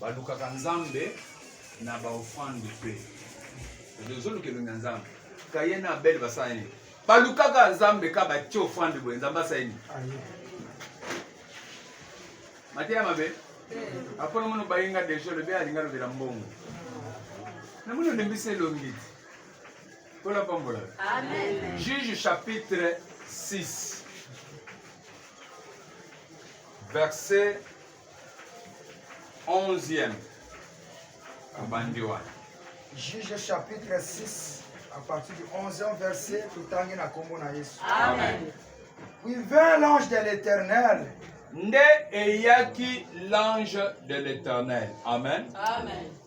balukaka nzambe na baofrande mpe ezoluka elongi ya nzambe kaye na abele basala nini balukaka nzambe ka batie ofrande boye nzambe asala nini mateya mabe apona mono bayinga deja lobi alinga lobela mbongo namoni olembisi elongi te kola pambola juge chapitre 6 verset 11e abandi wana juge chapitre 6 à partir du 11e verset totangi na kombo na yesu amen puis vint l'ange de l'éternel nde eyaki l'ange de l'éternel amen amen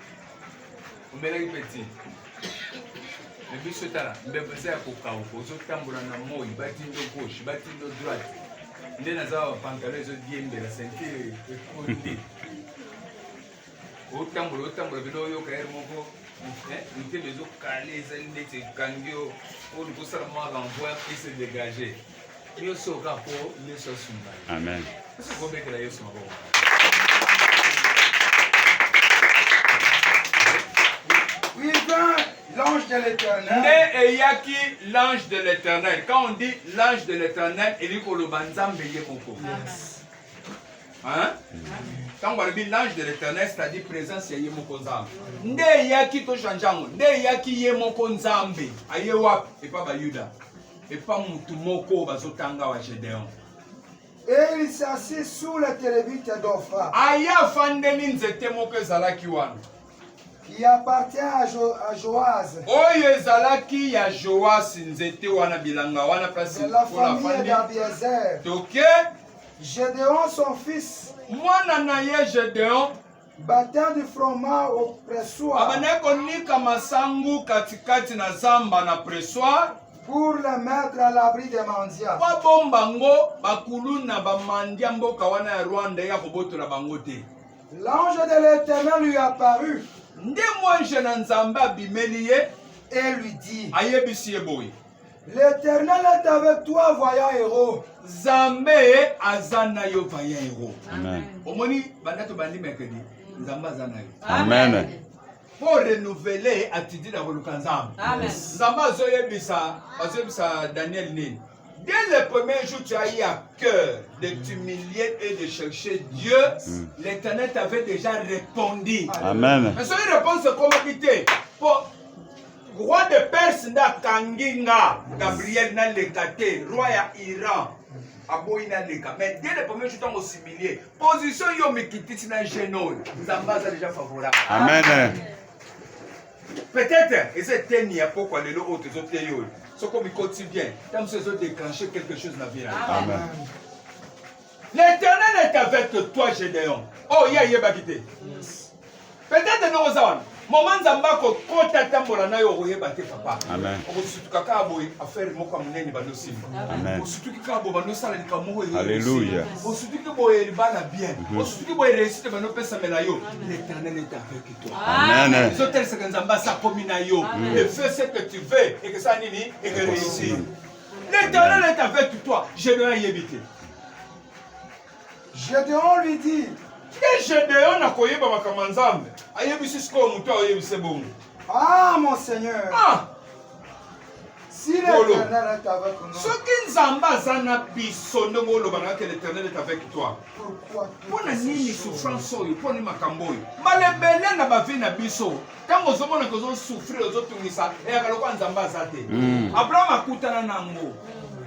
omelaki peti me biso tala mbebo eza ya kokauka ozotambola na moi batindo gauche batindo droite nde naza wa pantalo ezodiembela sentire ekondi otambola otambola bino oyoka ere moko motema ezokale ezali ndeti ekangi yo oyo kosala mwa renvoi ese dégage Nioso ka po Yesu asunga. Amen. Ko betela Yesu maboko. Il vint l'ange de l'éternel. Nde eyaki l'ange de l'éternel. Quand on dit l'ange de l'éternel, elingi koloba Nzambe ye moko. Yes. Hein? Amen. ntango balobi l'ange de l'éternel c'est-à-dire présence ya ye moko nzambe nde eyaki tochange yango nde eyaki ye moko nzambe aye wapi epa bayuda epa mutu moko bazotanga wa gedeon Et il s'assit sous la télévite d'Ophra. aya afandeli nzete moko ezalaki wana qui appartient à, jo à Joaz. oyo ezalaki ya joas nzete wana bilanga wana place de la famille d'Abiezer. toke Gédéon, son fils, mwana na ye gedeon Batandi fromage au pressoir. Abandaki konika masangu katikati na zamba na pressoir. Pour le mettre à l'abri des mendiants. Mpo abomba ngo bakuluna bamandia mboka wana ya Rwanda ya kobotola bango te. L'ange de l'Éternel lui apparut. Nde mwanje na Nzambe abimeli ye. Et lui dit. Ayebisi ye boye. L'Eternel est avec toi, voyant héros. Nzambe aza na yo voyant héros. Amen. Omoni banda to bandi mercredi. Nzambe aza na yo. Amen. Amen. mpo renouveler attitude ya koluka nzambe nzambe azoyebisa azoyebisa daniel nini dès le premier jour tu as eu à cœur de t'humilier et de chercher dieu mm. l'éternel t'avait déjà répondu amen mais soki réponse ekomaki te mpo roi de perse nde akangi nga gabriel naleka te roi ya iran aboyi naleka mais dès le premier jour ntango similie position yo mikitisi na jeune oyo nzambe aza déjà favorable amen peut-être eza eteni ya pokwa lelo oyo tozoteyi oyo soki omikoti bien ntango mosusu ezodeclenche quelque chose na vie na yo L'Éternel est avec toi, Gédéon. Oh, ye ayebaki te. Peut-être ndenge oza wana. Mama Nzambe akokota tambola na yo okoyeba te papa. Amen. Okosutuka kaka boye affaire moko ya monene bando simba. Amen. Osutuki kaka boye bando osala likambo moko eye. Alléluia. Osutuki boye libala bien. Osutuki boye réussite bando opesamela yo. L'Éternel est avec toi. Amen. Ezotelisaka Nzambe asakomi na yo. Le feu ce que tu veux ekesa nini? Eke réussir. L'Éternel est avec toi. Gédéon ayebi te. Gédéon lui dit. Ye Gédéon akoyeba makambo ya Nzambe. Ayebisi sikoyo moto ayebise bongo. Ah mon Seigneur. Ah. Si l'Éternel est avec nous. Soki Nzambe aza na biso ndenge oloba na que l'Éternel est avec toi. Pourquoi? Mpo na nini souffrance oyo? Mpo nini makambo oyo? Malebele na bavi na biso. ntango ozomona ke ozosouffrir ozotungisa eyaka lokola nzambe aza te hmm. abraham akutana na yango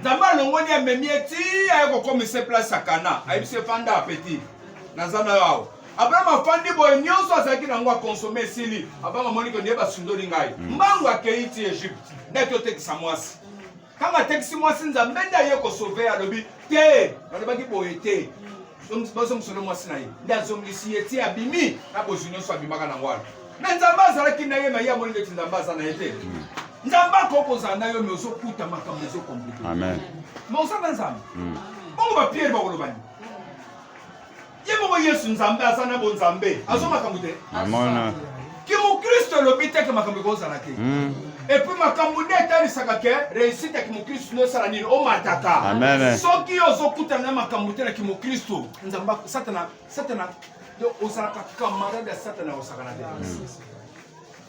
nzambe alongoli amemi ye ti aye kokomisa place ya kana ayebisi efanda apeti naza na yo awa abraham afandi boye nyonso azalaki na yango akonsome esili abanga monike nde basundoli ngai hmm. mbangu akei ti egypte nde totekisa mwasi ntango atekisi mwasi nzambe nde aye kosove alobi te balobaki boye te bazongisolo mwasi na ye nde azongisi ye ti abimi na bozwi nyonso abimaka na wana me nzambe azalaki na ye maye amoni ndeti nzambe aza na ye te nzambe akoki kozala na yo me ozokuta makambo ezokomplike me oza na nzambe bongo bapierre bakolobani ye moko yesu nzambe aza na bonzambe azwa makambo te amona kimokristo elobi te ke makambo ekozala te hmm. epuis makambo nde etalisaka ke reusite ya kimokristo nde osala nini omataka soki ozokutana na makambo te na kimokristo nzambe satana satana ozalaka camarade ya satana osakana te hmm.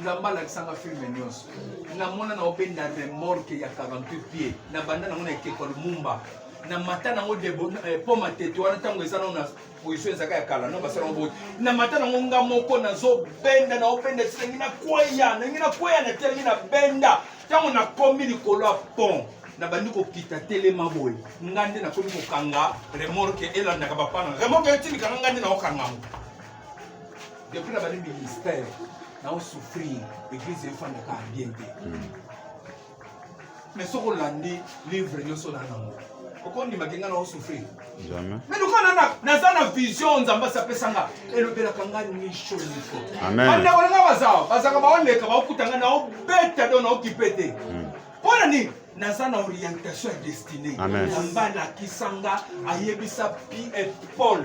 nzambe alakisanga filme nyonso namona nango mpe na remorke ya 48 pied na banda nango na ekeko ya lumumba na mata nango eh, po matete wana ntango eza nao na position ezaka ya kala no basala yango boye na mata nango nga moko nazobenda naobenda ti nangi nakweya nangi nakweya na telemi na benda ntango nakomi likolo ya pont nabandi kokita telema boye nga nde nakomi kokanga remorke elandaka bapana remorke etilikanga nga nde naokanga yango Depuis nabandi ministère nao souffrir église efandaka bien te hmm. mais soki olandi livre nyonso na nango okondimaki ngai nao souffrir mais lokola naza na vision nzambe asi apesa nga elobelaka ngai nisho nisho bandeko na ngai bazawa bazalaka baoleka baokuta ngai naobeta do naokipe te hmm. mpo na nini naza na orientation ya destine nzambe alakisa nga ayebisa pi et paul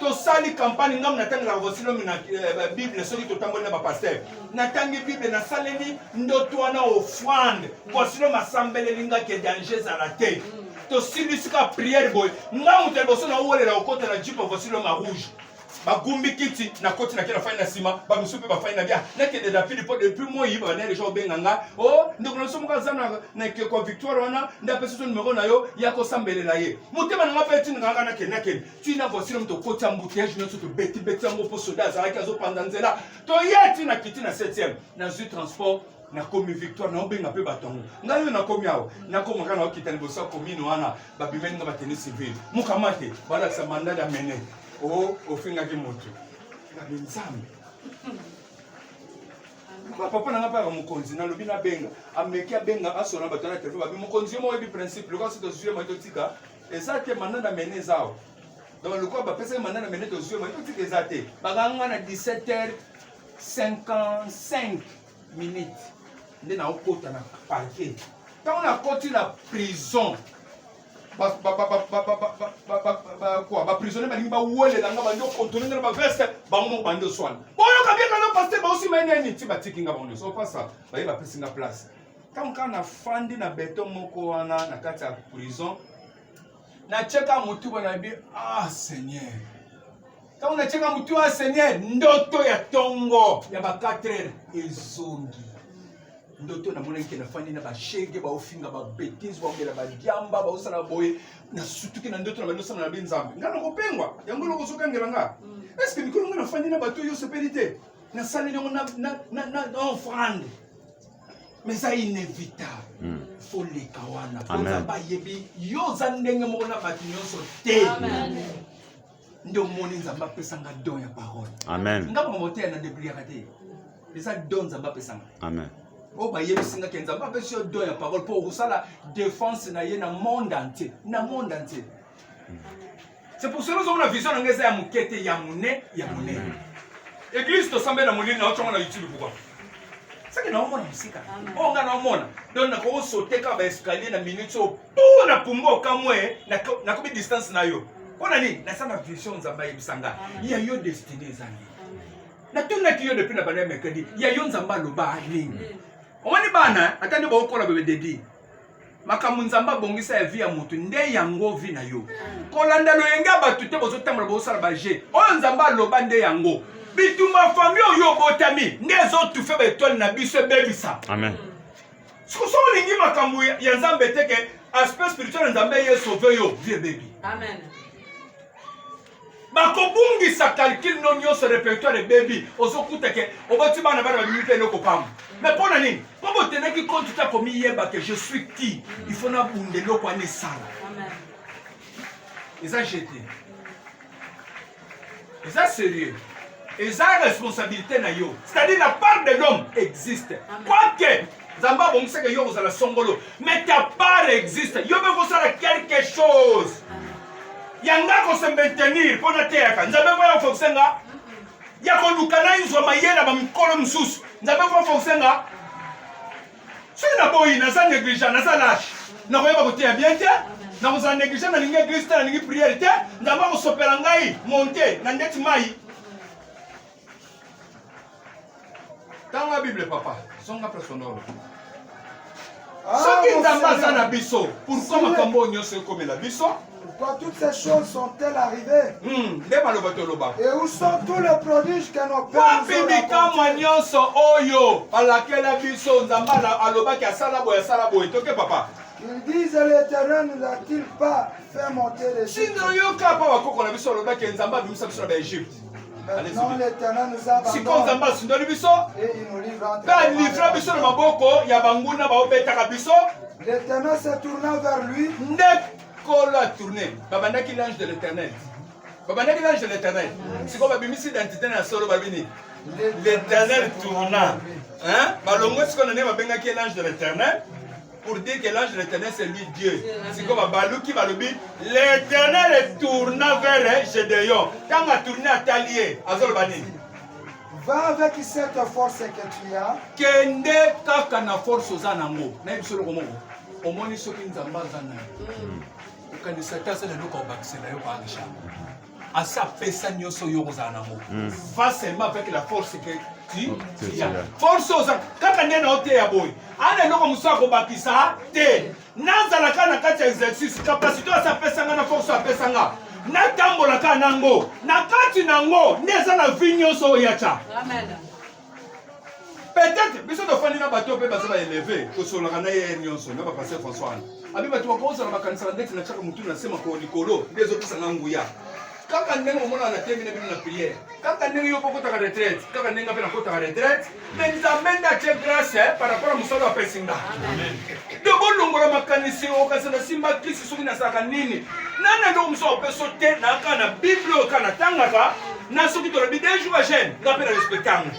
tosali kampani ngambo natangaka vosilomi na eh, bible soki totamboli na bapaster natangi bible nasaleli ndoto wana ofrande vosilomi asambeleli nga ke danger ezala te tosilisi ka priere boye nga moto ya liboso naowelela kokota na jipe vosilomi ya rouge bagumbi kiti nakoti nake nafai na nsima bamosusu mpe bafai na bia nakende na pili mpo depuis moi bana deja obenga nga o oh, ndeko na biso moko aza na ekeko victoire wana nde apesi so numero na yo ya kosambelela ye motema na nga mpe etindika nga nakende nakende tina voici nomi tokotisa mbuteyage nyonso tobetibeti yango mpo soda azalaki azopanza nzela toye ti na kiti na 7e nazwi transport nakomi victoire naobenga mpe bato yango ngai oyo nakomi awa nakomaka naokita liboso ya komine wana babimeli nga bateni civile mokama te balakisa mandal ya mene o oh, ofingaki motu nabe nzambe papa na nga mpe aka mokonzi nalobi nabenga ameki abenga asona bato na telefone babi mokonzi yo moko oyebi principe lokola soki tozwi ye mai totika eza te manda na mene eza awa donc lokola bapesaki manda na mene tozwi mai totika eza te bakanga nga na 17 heures 55 minutes nde naokota na parke ntango nakoti na prison baprisonnier balingi bawelela nga bandi okontrole nga na baveste bango moko bandi oswana boyoka biekana paster baosima eneni ti batiki nga bango nyonso opasa baye bapesi nga place ntango kaka nafandi na beton moko wana na kati ya prison natyeka motu boye nayebi ah seigneur ntango natyeka motu ya ah, seigneur ndoto ya ntongo ya ba 4 heure ezongi ndoto namonaki ke nafandi na bashege baofinga babetise baomela badiamba baosala boye nasutuki na ndoto na bandi osala na be nzambe ngai nakopengwa yango eloko ozokangela nga mm. eske mikolo ngai nafandi na bato oyo osepeli te nasaleli yango na offrande mais eza inévitable hmm. faut leka wana oza bayebi yo oza ndenge moko na bato nyonso te nde omoni nzambe apesanga don ya parole amen nga bamoteya na debliaka te eza don nzambe apesanga amen oyo bayebisi nga ke nzambe apesi yo don ya parole mpo okosala défense na ye na monde entier na monde entier c'est pour cela ozomona vision na ngai eza ya moke te ya mone ya monene eglise tosambeli na molili na otyongo na youtube pourkua seke naomona mosika oyo ngai naomona don nakosote kaka baescalier na minute oyo tu na pumba okamwe nakomi distance na yo mpo na nini nasala vision nzambe ayebisa ngai ya yo destine ezangi natunaki yo depuis na banda ya mercredi ya yo nzambe aloba nini omoni bana ata nde baokola bebe dedi makambo nzambe abongisa ya vi ya moto nde yango vi na yo kolanda loyenge ya bato te bozotambola bozosala baje oyo nzambe aloba nde yango bitumba fami oyo obotami nde ezotufe baetwale na biso ebebisa soko so olingi makambo ya nzambe teke aspect spirituel ya nzambe ye sauve yo vi ebebi bakobungisa calcul no nyonso repertoire ebebi ozokuta ke oboti bana bana babimi mpe eloko pamba mais mpo na nini mpo botenaki konti ta komiyeba ke je suis qui il faut nabunda eloko wana esala eza jete eza sérieux eza responsabilité na yo c'est-à-dire la part de l'homme existe quoique nzambe abongisaka yo kozala songolo mais ta part existe yo mpe kosala quelque chose yanga kosementenir mpo nateyaka nzambe mpo yakofokisa nga ya koluka nayozwa mayela bamikolo mosusu nzambe mpo afokisa nga soki naboyi naza negligent naza lage nakoyeba koteya bien te nakozala negligent nalingi eglise te nalingi priere te nzambe akosopela ngai monte na ndeti mai tanga bible papa songa presonolo ah, soki nzambe aza na biso pourkoi makambo oyo nyonso ekomela biso Quand toutes ces choses sont-elles arrivées hmm, Et où sont tous les prodiges que nos pères wapi bikamwa nyonso oyo alakela biso nzambe alobaki asala boye asala boye toke papa Ils disent l'Éternel ne l'a-t-il pas fait monter les Chinois, yo kapa bakoko na biso alobaki nzambe abimisa biso na baegypte sikoyo nzambe asundoli biso mpe alivra biso na maboko ya banguna baobetaka biso nde kolo atourne babandaki l'ange de l'éternel babandaki l'ange de l'éternel sikoyo babimisi identité na solo babini l'éternel tourna balongwe sikoyo na nde babengaki l'ange de l'éternel pour dire que l'ange l'éternel c'est lui Dieu. Sikoyo babaluki balobi l'éternel tourna vers Gédéon. Ntango atourne atali ye azoloba nini? Va avec cette force que tu as. Kende kaka na force oza nango. Nayebi solo komoko. Omoni soki Nzambe aza nayo. Okanisa te asala eloko abakisela yo kwa Aisha. asi apesa nyonso yo kozala nango hmm. va seulement avec la force que tu oh, as force oza kaka nde na oteya boye ana eloko mosusu akobakisa te nazala kaka na kati ya exercice kapasité asi apesa nga na force apesa nga natambola kaka nango na kati nango nde eza na vi nyonso oyo yacha peut-être biso tofandi na bato mpe baza baeleve tosololaka na ye nyonso na bapaster françois wana abi bato bakozala makanisa na ndeti na tiaka motu na se makolo likolo nde ezopesa na nguya kaka ndenge omonaka na temi na bino na priere kaka ndenge yo pokotaka retraite kaka ndenge mpe nakotaka retraite me nzambe nde atie grace eh, par rapport ya mosala apesi nga Donc bolongola makanisi oyo kasi nasimba krisi soki nasalaka nini nani eloko mosusu akopeso te naka na bible oyo ka natangaka na soki tolobi de jour agene nga mpe na respecte yango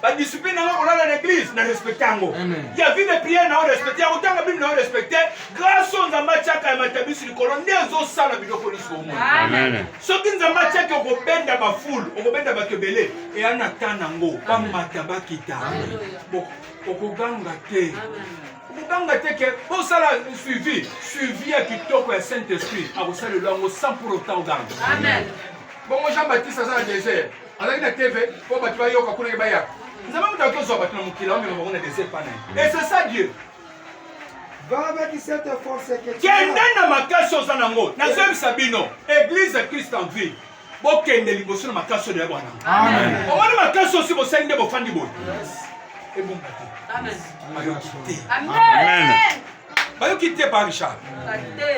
badiscipline nanga kolala na église na respecte yango ya vie de prière nao respecte ya kotanga bible nao respecte grâce oyo nzambe atiaka ya matabisi likolo nde ezosala biloko nyonso omoi soki nzambe atiaki okobenda bafulu okobenda bato ebele eya na ta nango bamata bakita okoganga te okoganga te ke osala suivi suivi ya kitoko ya saint esprit akosalela yango sans pour autant oganga bongo jean baptiste aza na désert azalaki na tv mpo bato bayoka kuna ye baya nzambe moto akozwa bato na mokili amema bango na désert pana et c'est ça dieu kende na makasi oza nango nazoyebisa bino église christ en ville bokende liboso na makasi oyo ya bwana omoni makasi osi bosali nde bofandi boye ebonga te bayoki te bayoki te pa richard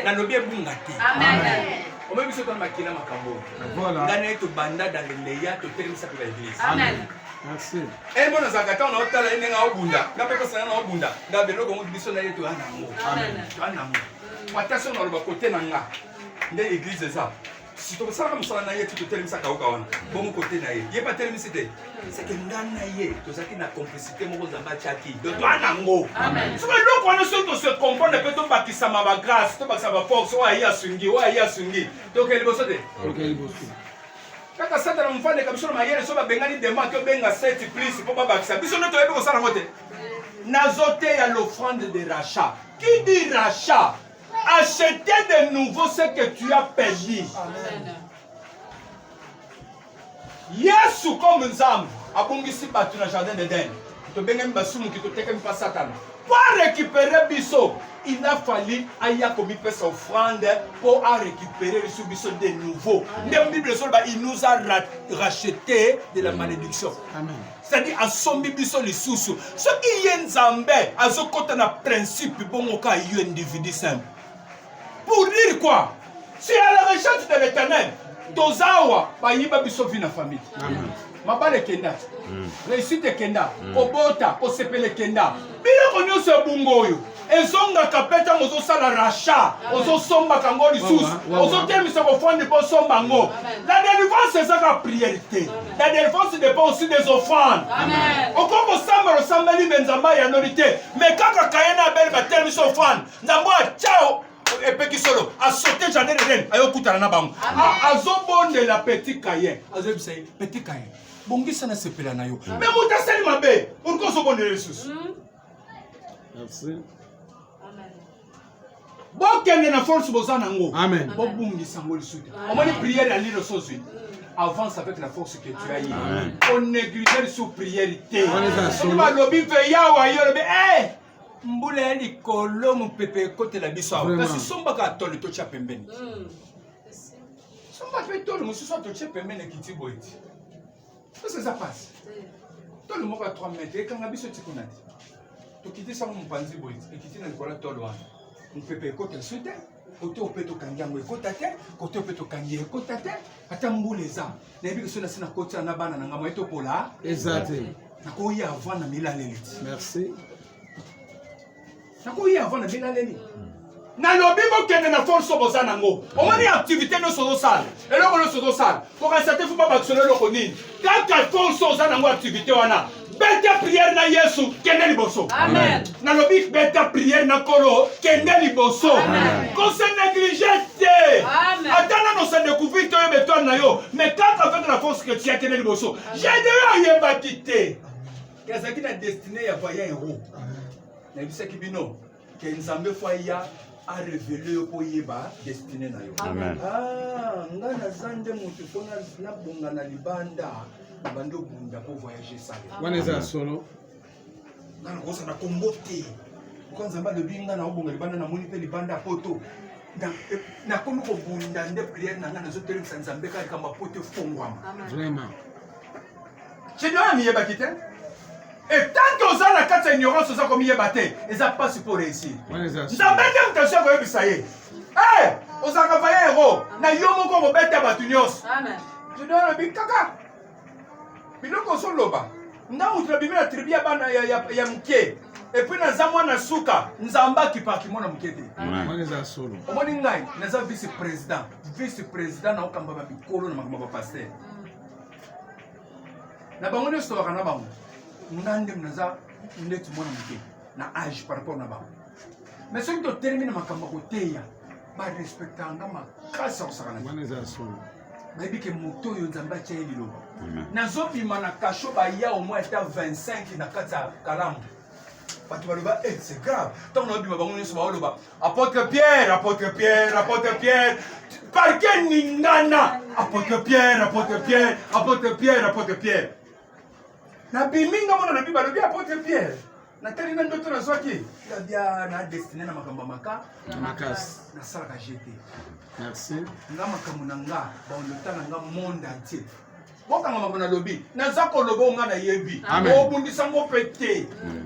nalobi ebunga te omoni biso tona makila makambo oyo ngai naye tobanda dans le meya totelemisa mpe baeglise emo eh, nazalaka ntango naotala ye ndenge aobunda nga mpe kosana naobunda nga beloko ngo biso na ye toya nango toya nango ata soki naloba kote na nga nde eglise eza si tosalaka mosala na ye ti totelemisa kauka wana bongo kote na ye ye batelemisi te seke nga na ye tozalaki na complicité moko nzambe atyaki do toa nango soki eloko wana soki tose comprendre mpe tobakisama bagrâce tobakisa baforce oyo aye asungi oyo aye asungi tokei liboso te kaka satana mofandeka biso na mayele so babengani dema ake obenga seti plus mpo babakisa biso nde toyebi kosala yango te nazoteya l'offrande de rachat qui dit rachat Acheter de nouveau ce que tu as perdu. Amen. Yesu comme Nzambe abongisi bato na jardin d'Eden. Tobengami basumuki totekami pa Satana. Mpo arécupere biso, il a fallu aya komipesa offrande mpo arécupere biso biso de nouveau. Nde Bible esoloba il nous a racheté de la malédiction. Amen. cetadi asombi biso lisusu soki ye nzambe azokota na principe bongo ka yo individu simple pour dire quoi c'est à la recherche de l'éternel toza awa bayiba biso vi na famille mabala ekenda hmm. réussite ekenda hmm. kobota kosepela ekenda biloko nyonso ya bongo oyo ezongaka mpe ntango ozosala racha ozosombaka yango lisusu ozotemisa kofandi mpo osomba yango la délivrance ezaka priere te la délivrance dépend aussi des offrandes okoki kosambela osambeli me nzambe ayanoli te me kaka kaye na abele batelemisa offrande nzambe atyao epeki solo asote jardin eden ayokutana na bango azobondela petit kayen azoyebisa ye petit kayen bongisa na sepela na yo me moto asali mabe pourkoi ozobondela lisusu hmm? bokende na force boza nango bobungisa yango lisusu omoni priere ya lilo sozwi avance avec la force que tu as ye onéglige lisusu priere te soki balobi mpe yawa yo olobi eh! mbula ya likolo mopepe ekotela biso awa kasi sombaka tole totya pembeni hmm. somba mpe tole mosusu atotye pembeni ekiti boye ti pesa eza pasi tolo moko ya 3 mètre ekanga biso ti kuna te tokitisi yango mopanzi boye ekiti na likolo ya tolo wana mopepe ekota esu te kote ope tokangi yango ekota te kote ope tokangi ekota te ata mbula eza nayebi ke so nasi nakotisa na bana na ngai moye topola eza te nakoya avant na milaleli ti merci nakoyi avant na bela leni nalobi bokende na force boza nango omoni activité nyonso ozosala eloko nyonso ozosala kokanisa te fo babakisolo eloko nini kaka force oza nango activité wana beta priere na yesu kende liboso nalobi beta priere na kolo kende liboso kose neglige te ata nano se découvrir te oyeba etoile na yo mais kaka avec la force que tia kende liboso gedeon ayebaki te ezalaki na destiné ya voya yango nayebisaki bino ke nzambe fo aya arevele yo mpo oyeba destine na yo ah, nga naza nde moto mpo nabonga na libanda na bandi obunda mpo voyage esale wana eza ya solo nga nakosa na kombo te mpo nzambe alobi nga naobonga libanda namoni mpe libanda ya poto nakomi kobunda nde priere na nga nazotelemisa nzambe kaka likambo ya poto efongwama vraiment Chedona miyebaki te etant que oza na kati ya ignorance oza komiyeba te eza mpasi mpo réussir nzambe nde moto asi akoyebisa ye eh, ozalaka vaya yango na yo moko kobeta bato nyonso chedona alobi kaka biloko ozoloba nga moto nabimi na tribu ya bana ya moke epuis naza mwana suka nzambe akipaki mwana moke te omoni ngai naza vice président vice président naokambama mikolo na makambo ya bapaster na bango nde sitolaka na bango nga nde naza ndeti mwana moke na age par rapport na bango me soki totelemi na makambo ya koteya barespectaka nga makasi ya kosakana bayebi ke moto oyo nzambe atya ye liloba nazobima na kasho baya omoi ata 25 na kati ya kalamu bato baloba e eh, c'est grave ntango naobima bango nyonso baoloba Apôtre Pierre, apôtre Pierre, apôtre Pierre. Parquet ningana. Apôtre Pierre, apôtre Pierre, apôtre Pierre, apôtre Pierre. Na biminga mona na biba lobi apôtre Pierre. natali na ndoto nazwaki labia na destine na makambo ya maka makasi nasalaka gt merci nga makambo na nga baondota na nga monde entier bokanga makambo nalobi naza koloba onga nayebi obundisa ngo mpe te mm.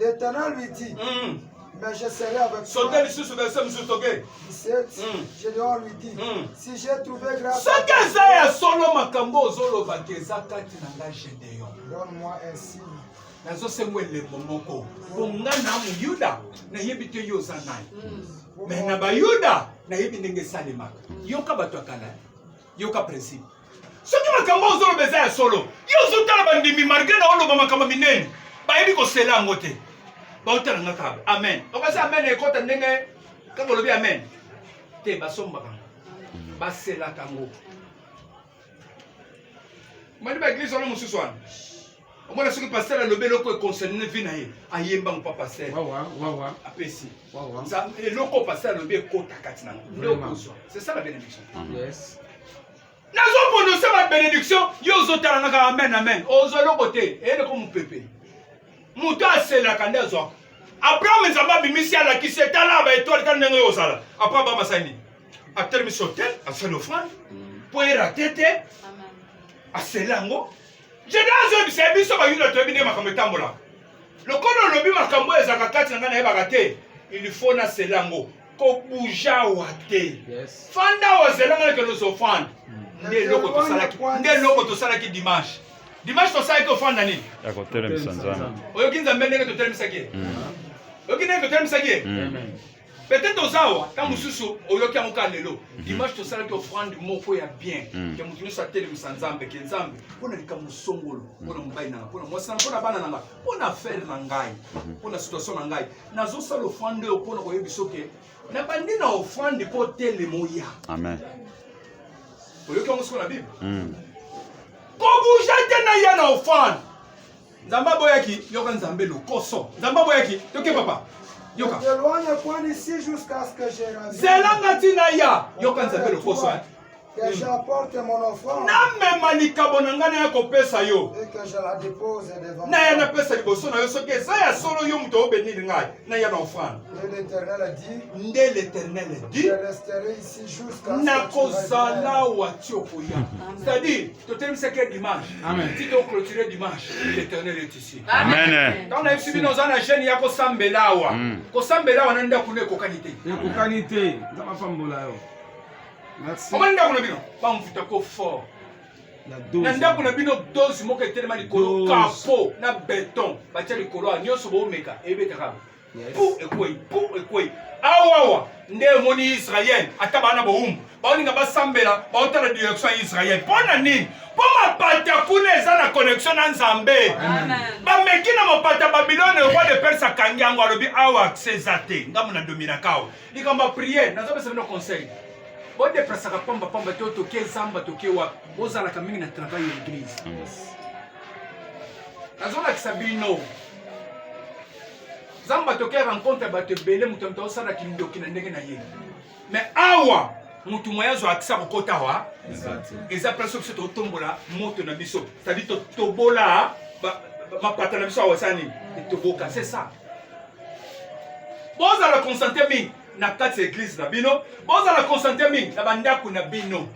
L'Éternel lui dit, mm. mais je serai avec toi. Soki lisusu verset mosusu toke. 17, mm. Gédéon lui dit, mm. si j'ai trouvé grâce. Soki eza ya solo makambo ozolobaka eza kati na ngai Gédéon. Donne-moi un signe. nazosengwa elembo moko mpo nga na moyuda nayebi te yo oza nani me na bayuda nayebi ndenge esalemaka yoka bato ya kala yoka principe soki makambo ozoloba eza ya solo yo ozotala bandimi malgre na oloba makambo minene bayebi kosela yango te baotala nga kaka amen okasi amen ekota ndenge kaka olobi amen te basombaka ngo baselaka ngo mani baeglise wana mosusu wana omona soki pasteur alobi eloko econcerne vie na ye ayemba ngo pa pasteur apesi eloko pasteur alobi ekota kati na ngo c'est ça la bénédiction nazoprononce ba bénédiction yo ozotala naka amen amen ozwa eloko te eyeleko mopepe moto aselaka nde azwaka abraham nzambe abimisi alakisi etala ba etoile kani ndenge ozala apres abraham asali nini atelemisi hotel asali offrande mpo mm. erate te aseli yango Jeda azoyebisa ye biso bayuda toyebi nde makambo etambolaka lokola olobi makambo oyo ezalaka kati na ngai nayebaka te ilfo na sela yango kobuja wa te fanda ozela ngai nakende ozofanda hmm. nde eloko tosalaki nde eloko tosalaki dimanche dimanche tosalaki ofanda nini oyoki nzambe ndenge totelemisaki ye hmm. oyoki ndenge totelemisaki ye hmm. peut-être oza awa ntango mm. mosusu oyoki yango kaka lelo mm-hmm. dimanche tosalaki offrande moko ya bien ke mm. moto nyonso atelemisa nzambe ke nzambe mpo na likambo songolo mpo na mm. mobali na ngai mpo na mwasi na mpo na bana na ngai mpo na affaire na ngai mm-hmm. mpo na situation na ngai nazosala offrande oyo mpo na koyebi biso ke nabandi na offrande mpo telema oya amen oyoki yango soko na bible kobuja te na ya na offrande Nzambe aboyaki, yoka Nzambe lokoso. Nzambe aboyaki, yoke papa. Yoka. T'éloigne point d'ici jusqu'à ce que je revienne. Zelanga tina ya, yoka Nzambe lokoso. Hein. Que j'apporte mon offrande. Namema likabo na ngai naya kopesa yo. Et que je la dépose devant. Naya napesa liboso na yo soki eza ya solo yo moto obenir ngai naya na offrande. Nde l'Éternel a dit. Nde l'Éternel a dit. Je resterai ici jusqu'à ce que tu reviennes. Nakozala wa ti okoya. C'est-à-dire totelemisaki ye dimanche ti toclotire dimanche l'éternel est ici ntango nayebisi bino oza na jeune ya kosambela awa hmm. kosambela awa na ndako no ekokani te ekokani te nzambe apambola yo omoni ndako na bino bamvuta ko fort na ndako na bino dose moko etelema likolo kapo na beton batya likolo a nyonso boomeka ebetaka Pou ekwei, pou ekwei. Awawa nde emoni Israël ata bana bowumbu baolinga basambela baotala direction ya Israël. Mpo na nini? Mpo mapata kuna eza na connexion na Nzambe. Bameki na mapata Babilone, roi de Perse akangi yango, alobi awa accès eza te, ngambo na dominaka awa. Likambo ya priere, nazopesa bino conseil bodeplasaka pamba pamba to toke zamba toke wapi bozalaka mingi na travail ya eglise nazolakisa bino nzambe atokea rencontre ya bato ebele moto moto aosala kindoki na ndenge na ye me awa motu moye azwa akisa kokota wa eza place biso totombola moto na biso cetadi totobola mapata na biso awa eza nini etoboka se sa bozala concentre mingi na kati ya eglize na bino bozala concentre mingi na bandako na bino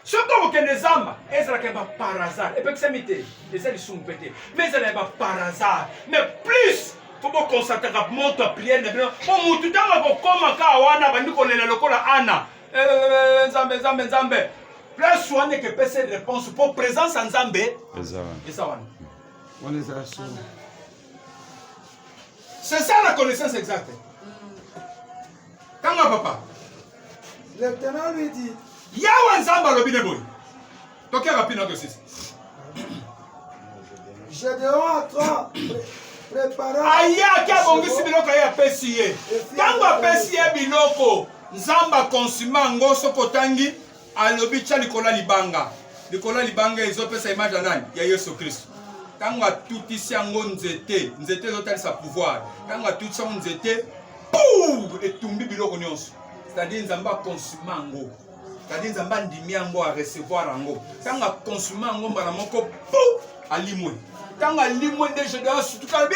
soki okokende zamba ezalaka ya baparazar epekisami te eza lisumu mpe te me ezala ya baparazar mais plus fo bokonstataka moto ya priere na bino po motu ntango akokoma kaa wana abandi kolela lokola ana eh, eh, eh, nzambe nzambe nzambe place wana ekepesa réponse mpo présence ya nzambe eza wana wana eza solo c'est ça la connaissance exacte Kanga papa. Lieutenant lui dit. Yawa Nzambe alobi ne boye. Tokea rapide na tosisi. Gedeon a trois ayaki abongisi biloko ye apesi ye ntango apesi ye biloko nzambe akonsima yango soki otangi alobi tya likolo ya libanga likolo ya libanga ezopesa image ya nani ya yesu kristo ntango atutisi yango nzete nzete ezotalisa pouvoir ntango atutisi yango nzete pou etumbi biloko nyonso c'est-à-dire nzambe akonsuma yango c'est-à-dire nzambe andimi yango arecevoir yango ntango akonsuma yango mbala moko pou alimwe ntango alimwe nde gedeon sutuka alobi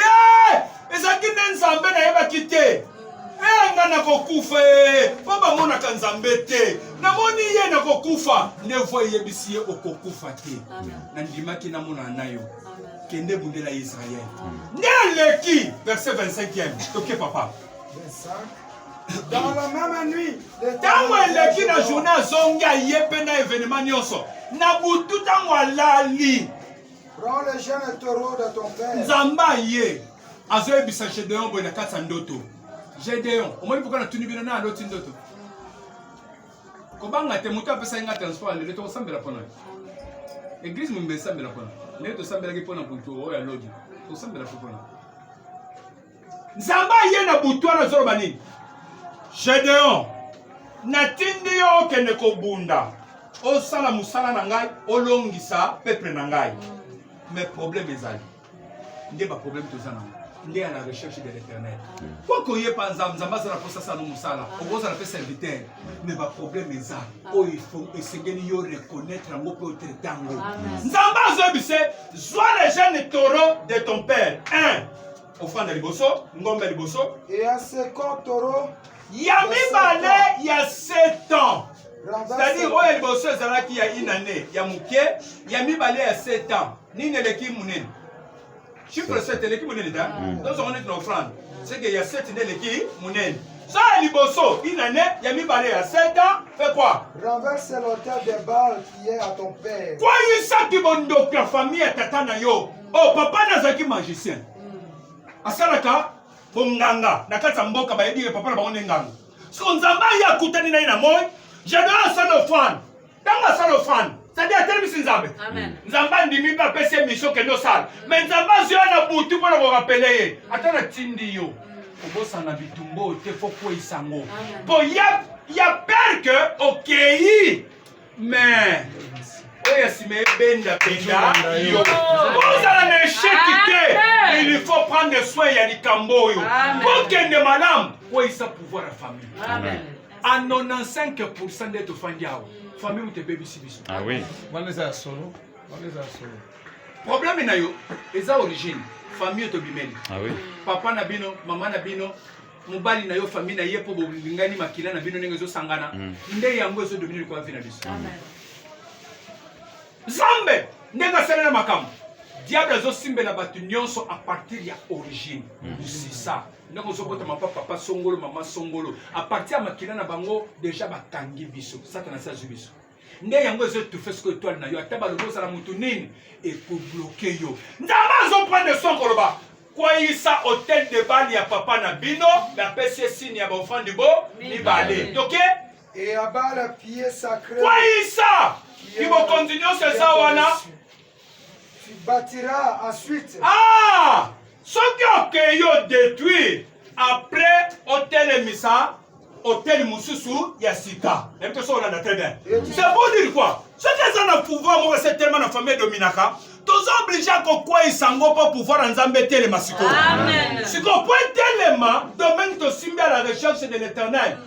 ezalaki nde nzambe nayebaki te Eh, nga nakokufa ee mpo bamonaka nzambe te namoni ye nakokufa nde voi eyebisi ye okokufa te nandimaki namonana na yo kende bundela ya israele nde aleki verset 25e toke papa ntango eleki na journée azongi aye mpe na evenema nyonso na butu ntango alali nzambe aye azoyebisa gedeon boye na kati ya ndoto gedeon omoni mpoka natuni bino na aloti ndoto kobanga te moto apesaki nga transport lelo tokosambela mpona eglise mombe esambela mpona ndenge tosambelaki mpona butu oyo ya lobi tosambela mpo mpona nzambe aye na butu wana azoloba nini gedeon natindi yo okende kobunda osala mosala na ngai olongisa peple na ngai me probleme ezali nde ba problème toza nango nde ya la recherche de l'éternel po koyepa nzambe nzambe azala mposa sano mosala okozala mpe serviteur mais ba problème eza oyo esengeli yo reconnaître yango mpe otraite yango nzambe azoyebise zwa le jeune taureau de ton père un ofanda liboso ngombe liboso ya second taureau ya mibale ya sept ans c'est-à-dire oyo ya liboso ezalaki ya inane ya moke ya mibale ya sept ans nini eleki munene chiffre 7 eleki munene ta mm. tozongo neti na offrande seke ya 7 nde eleki munene ça ya liboso une année ya mibale ya 7 ans fait quoi renverse l'auteur des balles qui est à ton père kwayisaki bondoki ya famille ya tata na yo oh papa nazalaki magicien mm. asalaka bonganga na kati ya mboka bayebi ye papa na bango nde nganga so nzambe aye akutani na ye na moi jadon asala ofrande ntango asala ofrande sadi atelemisi nzambe nzambe andimi mpe apesi ye misio kende osala me nzambe azwi ya na butu mpo na korapele ye ata natindi yo kobosana bitumba oyo te fo kweisa yango mpo ya pere ke okei me oyo ya nsima ebenda benda yo ozala na esheki te il faut prendre soin ya likambo oyo okende malamu kweisa pouvoir ya famille a 95 pourcent nde tofandi awa famille moto ebebisi biso ah wana eza ya solo wana eza ya solo problème na yo eza origine famille tobimeli ah papa na bino mama na bino mobali na yo famille na ye mpo bolingani makila na bino ndenge ezosangana mm. nde yango ezodomine likolo vi na biso zambe ndenge asalela makambo diable azosimbela bato nyonso a partir ya origine mm. sisa ndenge ozobota mapa papa songolo mama songolo apartir ya makila na bango deja bakangi biso satana asi azwi biso nde yango ezo etufe soko etoile na yo ata balobi ozala motu nini ekobloke yo nzambe azoprendre son koloba kweyisa hotel de bale ya papa na bino bapesi esini ya baofandi bo mibale toke kweyisa kibokonzi nyonso eza wana Tu bâtiras ensuite. Ah! Soki okeyi o détruire après otelemisa hôtel mosusu ya sika. Nayebi te soki olanda très bien. C'est pour dire quoi? Soki aza na pouvoir moko se tellement na famille dominaka, toza oblige ya kokweisa yango mpo pouvoir ya nzambe etelema sikoyo sikoyo mpo etelema domaine tosimbi à la recherche de l'éternel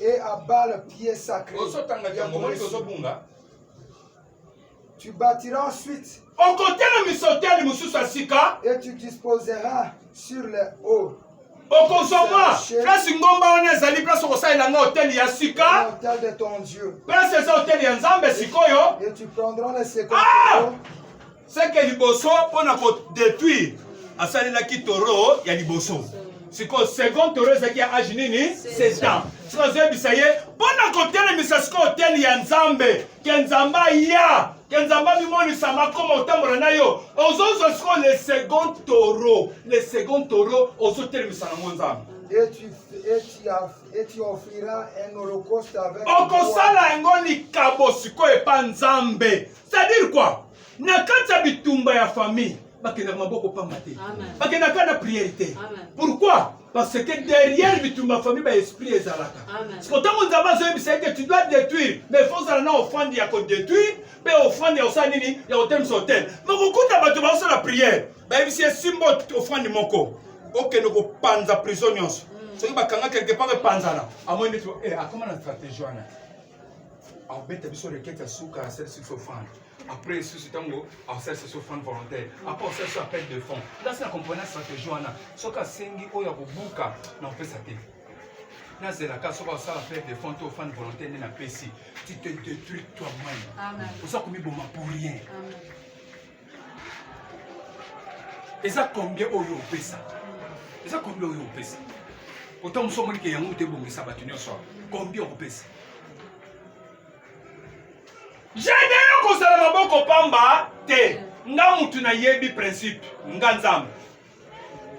Et à bas le pied sacré. Ozotanga ya ngomoni kozobunga. Tu bâtiras ensuite. Okotela misoteli mosusu ya sika. Et tu disposeras sur le haut. okozwa mwa place ngomba wana ezali place okosalela nga hotele ya sika place eza hotele ya nzambe sikoyo ah! seke liboso mpo na kodetruire asalelaki toro ya liboso sikoyo second toro ezalaki ya age nini sestan sikoyo azoyebisa ye mpo na kotelemisa sikoyo teni ya nzambe ke nzambe aya ke nzambe amimonisa makoma otambola na yo ozozwa sikoyo le second toro le second toro ozotelemisa nango nzambe okosala yango likabo sikoyo epa nzambe c'est-à-dire quoi na kati ya bitumba ya famille bakendaka maboko pamba te bakendaka na priere te pourquoi parce que derrière bitumba famille ba esprit ezalaka siko ntango nzambe azoyebisa ete tu dois détruire mais fo ozala na ofrande ya kodétruire mpe ofrande ya kosala nini ya kotemisa hotel makokuta bato baosala priere bayebisi esimbo ofrande moko okende kopanza prison nyonso soki bakanga quelque part epanzana amoni neti eh, akoma na stratégie wana abeta biso rekete ya suka asalisi biso fane après lisusu ntango asalisa biso fane volontaire après asalisa biso appel de fond ndasi na comprena stratégie wana soki asengi oyo ya kobuka na kopesa te nazelaka soki asala appel de fond to fane volontaire nde napesi tu te détruis toi-même oza komiboma pour rien Amen. eza combien oyo opesa eza combien oyo opesa pourtant mosu omoni ke yango te ebongisa bato nyonso awa combien okopesa jede yo kozala maboko pamba te nga mutu nayebi principe nga nzambe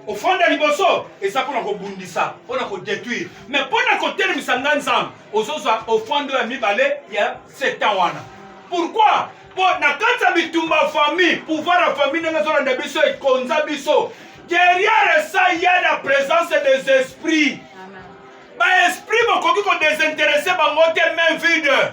ofanda liboso eza mpona kobundisa mpona kodetruire me mpona kotelemisa ngai nzambe ozozwa ofando ya mibale ya setan wana pourkui mpo na kati ya bitumba ya famille pouvoir ya famille ndenge ezolanda biso ekonza biso derrière ça ya la présence des esprits baesprit bokoki kodesinteresse bango te main vide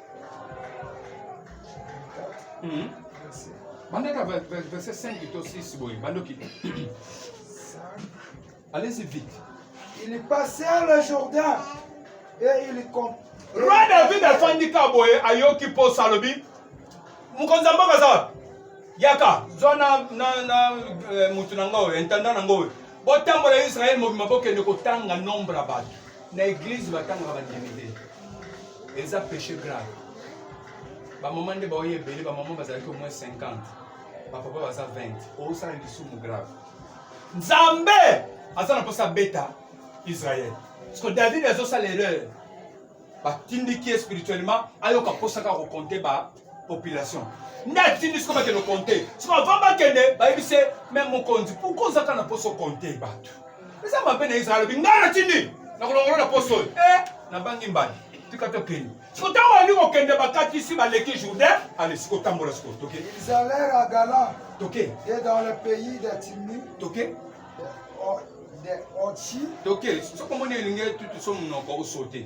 Hmm. bandaka verset 5 to 6 boye bandoki allez-y vite ils passèrent le jourdain et ils roi david afandi ka boye ayoki mposa alobi mokonzi ya mboka aza yaka zwa na, na, na eh, motu na nga oyo intendant na nga oyo botambola israele mobima bokende kotanga nombre ya bato na eglise batangaka bandimi te eza péché grave bamama nde baoyo ebele bamama bazalaki au moins 50 bapapa baza 20 osala lisumu grave nzambe aza na mposa abeta israel parceke david azosala erreur batindiki ye spirituellement ayoka mposaka kokonte ba population nde atindi siko bakende konte siko avant bakende bayebisi me mokonzi pourkoi ozaka na mposo konte bato eza mabe na israel alobi ngai natindi nakolongolo na mposo oyo e eh, nabangi mbali tika tokende siko ntango alingi kokende bakatisi baleki jourdain ale siko tambola siko toke ils allèrent à galan toke et dans le pays de timi toke toke soki omoni elingi tutu so monoko osote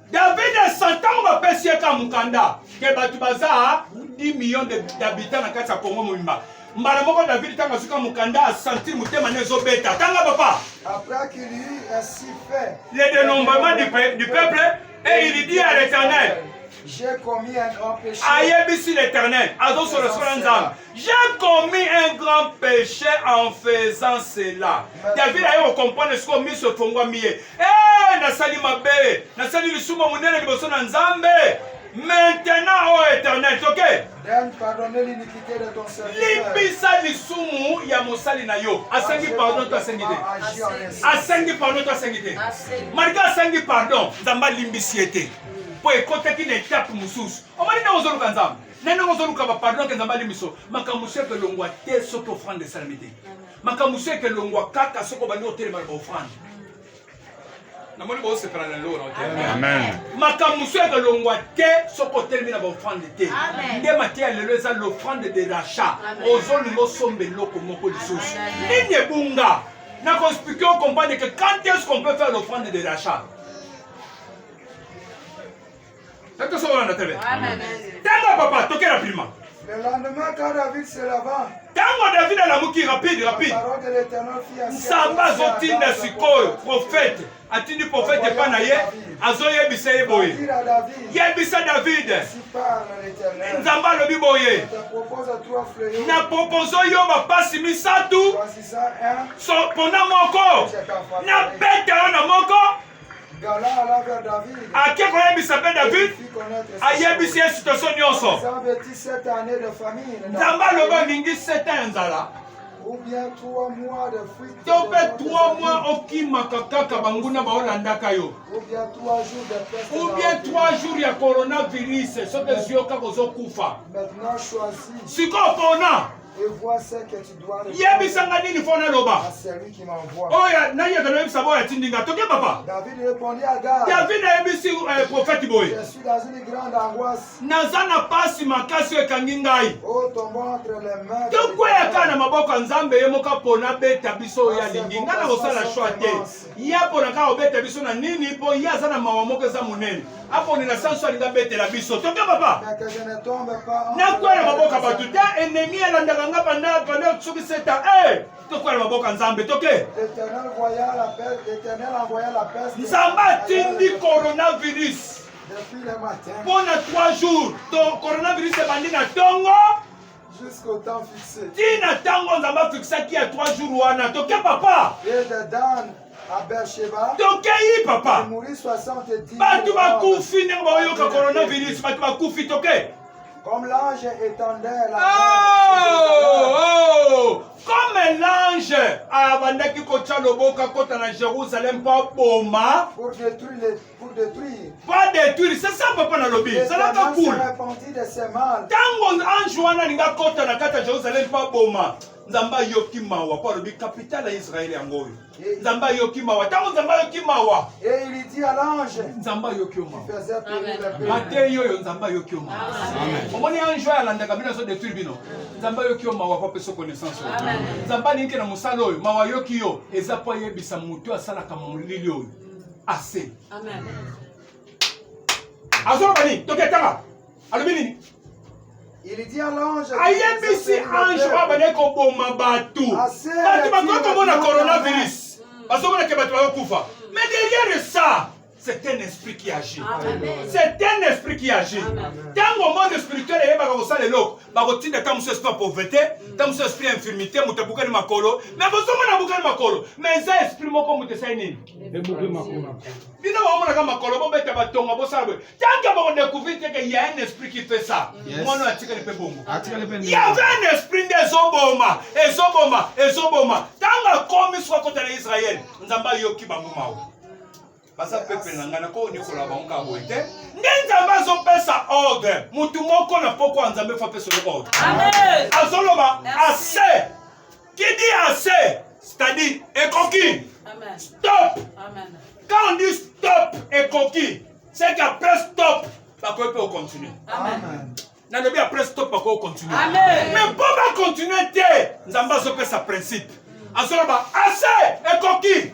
David asa ntango bapesi ye ka mokanda ke bato baza 10 million d'habitants na kati ya Congo mobimba mbala moko David ntango azuka mokanda asentir motema ne ezobeta tanga papa le dénombrement du, pe, du peuple et il dit à l'éternel ayebisi l'éternel azosolosola nzambe J'ai commis un grand péché en faisant cela. David aye kokomprendre sikoyo miso efongwami ye. Eh, nasali mabe, nasali lisumu monene liboso na Nzambe. Maintenant, ô oh Éternel, toke. Limbisa lisumu ya mosali na yo. Asengi pardon to asengi te. Asengi pardon to asengi te. Malika asengi pardon, Nzambe alimbisi ye te. Mpo ekotaki na etape mosusu. Omoni ntango ozoluka Nzambe. nani ozoluka bapardon yake nzambe alimbi biso makambo mosusu yake elongwa te soki ofrande esalami te makambo mosusu yake elongwa kaka soki obandi kotelema na baofrande namoni bosepela na lelo na makambo mosusu yake elongwa te soki otelemi na baofrande te nde mateya lelo eza l'ofrande de rachat ozolinga osomba eloko moko lisusu nini ebunga na koexplike okomprendre que quand est ce qu'on peut faire l'ofrande de rachat Est-ce que ça va, Nathalie Amen. Tango, papa, toquez rapidement. Le lendemain, quand David se leva, ntango david alamuki rapide rapide nsamba azotinda sikoyo profete atindi profete epai na ye azoyebisa ye boye yebisa david nzambe alobi boye na propozo yo bapasi misato pona moko na beta yo na moko ake koyebisa mpe david ayebisi ye sitoso nyonso nzambe aloba olingi seta ya nzala to mpe 3 mois okimaka kaka banguna baolandaka yo ubien 3 jours ya coronavirus soki ezwi yo kaka ozokufa sikoyo pona yebisa nga nini mpo naloba oyo nayaka noyebisa boyo atindi nga toke papa david ayebisi eh, profete boye naza na pasi makasi oyo ekangi ngai oh, tokweyaka na maboko ya nzambe ye moko apona beta biso oyo alingi ngai na kosala shwa te ye apona kaka kobeta biso na nini mpo ye aza na mawa moko eza monene aponela sanso alingi abetela biso toke papa nakwa na maboka bato te enemi alandaka nga panda panda soki seta e tokwa na maboka nzambe toke nzambe atindi coronavirus mpo na 3 jours to coronavirus ebandi na ntongo ti na ntango nzambe afikisaki ya 3 jour wana toke papa tokei papa bato bakufi ndenge baoyoka coronavirus bato bakufi toke Comme l'ange étendait la oh, oh, Comme l'ange abandaki kotya loboko akota na Jérusalem mpo aboma Pour détruire. Pas détruire, c'est ça papa nalobi. Zalaka cool. Tango ange wana linga kota na kata Jerusalem pa boma. Nzambe ayoki mawa po alobi capitale ya Israël yango oyo. Nzambe ayoki mawa. Tango Nzambe ayoki mawa. Et il dit à l'ange. Nzambe ayoki yo mawa. Mateyi oyo Nzambe ayoki yo mawa. Omoni ange oyo alandaka bino azo détruire bino. Nzambe ayoki yo mawa po apesa connaissance oyo. Nzambe alingi na mosala oyo mawa ayoki yo eza po ayebisa moto asalaka molili oyo. assez amen azoloba nini toketanga alobi nini ayebisi ange oyo abandaki koboma bato bato bakoki komona coronavirus mm. bazomonake bato bakokufa mais derrière ça c'est un esprit qui agit c'est un esprit qui agit ntango monde spirituel eyebaka kosala eloko bakotinda ta mosusu esprit ya pauvreté ta mosusu esprit ya infirmité moto abukani makolo mais bozomona abukani makolo mais eza esprit moko moto esali nini bino baomonaka makolo bobeta batonga bosala boye tanke bakodecouvrir teke ya un esprit qui fait ça mwana oyo atikali mpe bongo yave un esprit nde ezoboma ezoboma ezoboma ntango akomi soki akota na israel nzambe ayoki bango mawa baza pepe na ngai nakoki nikola bango kaka boye te nde nzambe azopesa ordre motu moko na pokwa nzambe fo apesa yo ordre azoloba ase Qui dit assez, c'est-à-dire ekoki. Amen. Stop. Amen. Quand on dit stop ekoki, c'est qu'après stop, bakoki mpe ocontinue. Amen. nalobi après stop bakoki ocontinue. Amen. Mais mpo bacontinue te, Nzambe azopesa principe. Azoloba assez ekoki.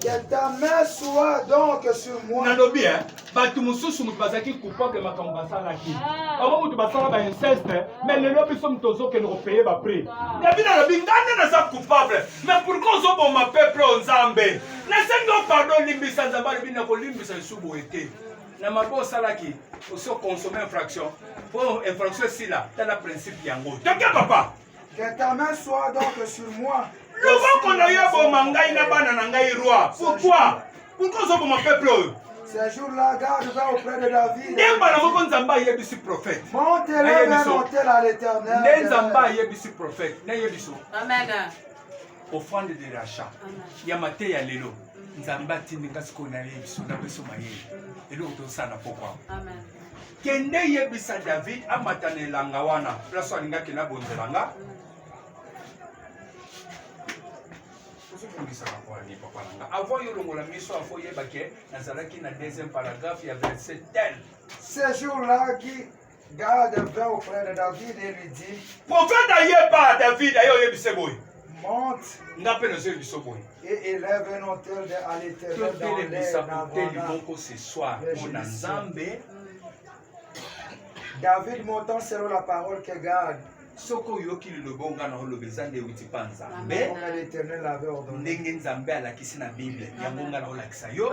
Que ta main soit donc sur moi. nalobi eh, bato mosusu moto bazalaki coupable ya makambo basalaki ah. bango moto basala ba inceste mais lelo biso moto ozokende kopeye baprix david ah. alobi ngai nde naza coupable mais pourkoi ozoboma peuple o nzambe nasengi o pardon olimbisa nzambe alobi nakolimbisa lisusu boye te na mabe osalaki oso consomme infraction mpo infraction esila tala principe yango toke papa Que ta main soit donc sur moi. Loboko na yo eboma ngai na bana na ngai roi. Pourquoi? Pourquoi ozoboma peuple oyo? Ces jours-là, garde va auprès de David. Nde mbala moko Nzambe ayebisi prophète. Monte le vers l'autel à l'Éternel. Nde Nzambe ayebisi prophète. Nde ayebiso. Amen. Offrande de rachat. Ya mateya lelo. Nzambe atindi nga sikoyo nayebiso na biso mayele. Eloko tosala pokwa. Amen. Kende yebisa David amata na elanga wana place oyo alingaki na bonzela nga ozobongisaka poani papa na nga avant yo longola miso afo oyeba ke nazalaki na deuxième paragraphe ya verset tel ce jour là qui garde vint auprès de David et lui dit prophète ayeba David aye oyebise boye monte. Nga pe nazo yebisa boye. Et élève un autel de à l'éternel dans les nations. moko ce soir mpona Nzambe. David montant selon la parole que garde soki oyoki liloba oyo ngai naoloba eza nde euti mpa nzambe ndenge nzambe alakisi na bible yango ngai naolakisa yo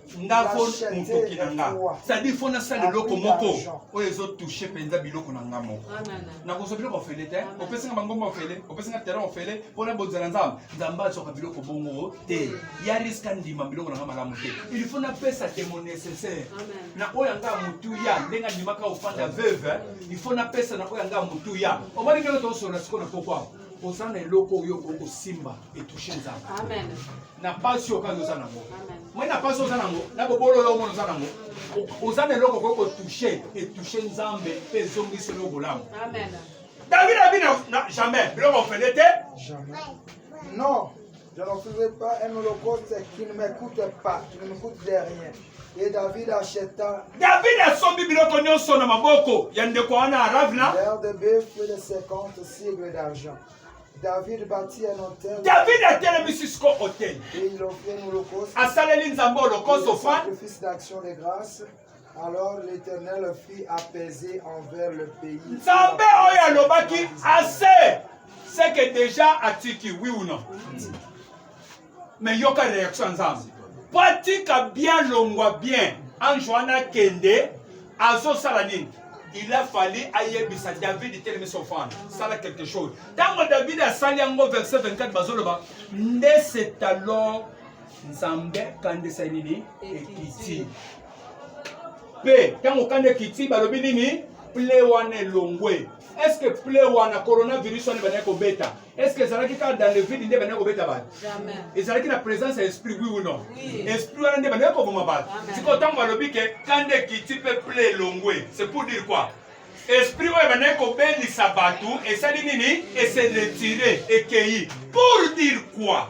nga fo motoki na nga cestadire fo nasala eloko moko oyo ezotouche mpenza biloko na nga moko nakozwa biloko ofele te opesi nga bangomba ofele opesi nga terrain ofele mpo na bozala nzambe nzambe azwaka biloko bongo te ya riske andima biloko na nga malamu te il faut napesa temo nécessaire na oyo anga motuya ndenge andimaka ofanda veuve il faut napesa na oyo anga motuya omoni ndenge toosolola sikoyo na pokwa oza na eloko oyo okoki kosimba etouche nzambe na pasi oyo kaka oza nango moi na pasi oza nango na bobolo yo omona oza nango oza na eloko okoki kotouche etouche nzambe mpe ezongisi yo bolamu david abi na jamais biloko ofele te non Je ne faisais pas un holocauste qui ne m'écoute pas, qui ne m'écoute de rien. Et David acheta. David a asombi biloko nyonso na maboko ya ndeko wana Aravna. L'air de bœuf et de 50 cygnes d'argent. David bâtit un autel. David atelemisi siko hoteli. Et il offrit un holocauste. Asaleli Nzambe holocauste ofrande. Sacrifice d'action de grâce. Alors l'Éternel fit apaiser envers le pays. Nzambe oyo alobaki assez. C'est que déjà atiki oui ou non. mais yoka reaction ya nzambe po atika bien longwa bien ange wana akende azosala nini il a fallu ayebisa david telemi sofana sala quelque chose ntango david asali yango verset 24 bazoloba nde c'est alors nzambe kandisa nini ekiti mpe ntango kanda ekiti balobi nini ple wana elongwe est ce que ple wana coronavirus wana ebandaki kobeta Est-ce que ezalaki kaka dans le vide nde bandaki kobeta bato ezalaki na présence ya esprit oui ou non esprit wana nde bandaki koboma bato sikoyo ntango balobi ke kanda ekiti mpe ple elongwe c'est pour dire quoi esprit oyo ebandaki kobelisa bato esali nini eseletire ekei pour dire quoi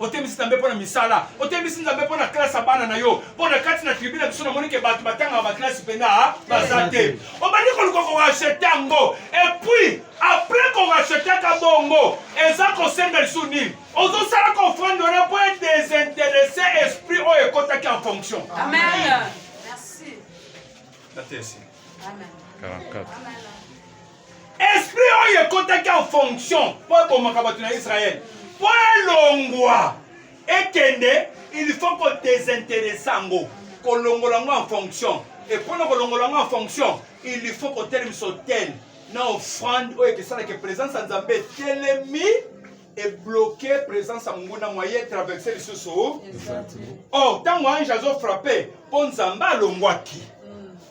otemisi nzambe mpo na misala otemisi nzambe mpo na klase ya bana na yo mpo na kati na tribu na biso namoni ke bato batangaka baklase mpenza ah, baza te obandi koluka korachete yango epuis apres korachetaka bongo eza kosenga lisu nini ozosala kofrande wana mpo edesinteresse esprit oyo ekotaki en fonction Amen. Merci. Amen. 44. esprit oyo ekotaki en fonction mpo ebomaka bato na israele mpo elongwa ekende il faut kodesinteresse yango kolongola yango en fonction epona kolongola yango en fonction il faut kotelemisa hotele na offrande oyo ekesalaka présence ya nzambe etelemi ebloke présence ya monguna moye traverse lisusu o oh, ntango ange azofrappe mpo nzambe alongwaki